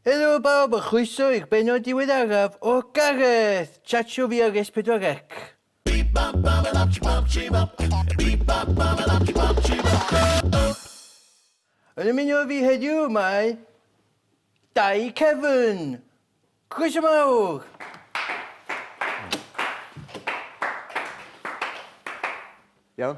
Helo bawb a chroeso i'r bennod diweddaraf o Gareth! Chatsio fi ar S4C. Yn ymuno â fi heddiw mae Dai Cefn! Croeso mawr! Iawn?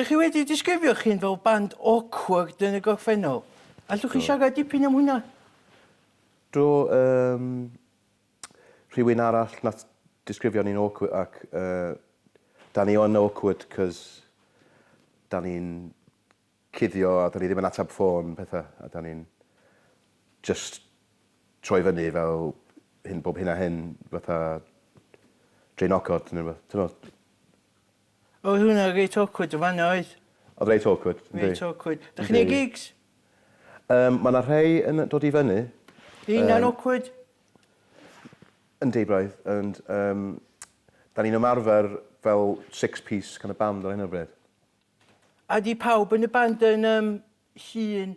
Dych chi wedi disgrifio'ch hun fel band awkward yn y gorffennol. Allwch chi siarad dipyn am hwnna? Do, yym, rhywun arall nath disgrifio ni'n awkward ac yy 'dan ni yn awkward 'c'os 'dan ni'n cuddio a 'dan ni ddim yn atab ffôn petha a 'dan ni'n jyst troi fyny fel hyn bob hyn a hyn fatha draenogod ne' rwbeth t'mod? Oedd hwnna reit awkward yn fan'na oedd? Oedd reit awkward, yndi. Reit awkward. Dach chi'n neud gigs? Yym ma' 'na rhei yn dod i fyny. Ydi hynna'n awkward? Yndi braidd ond yym 'dan ni'n ymarfer fel six piece kind of band ar hyn o bryd. A 'di pawb yn y band yn yym llun?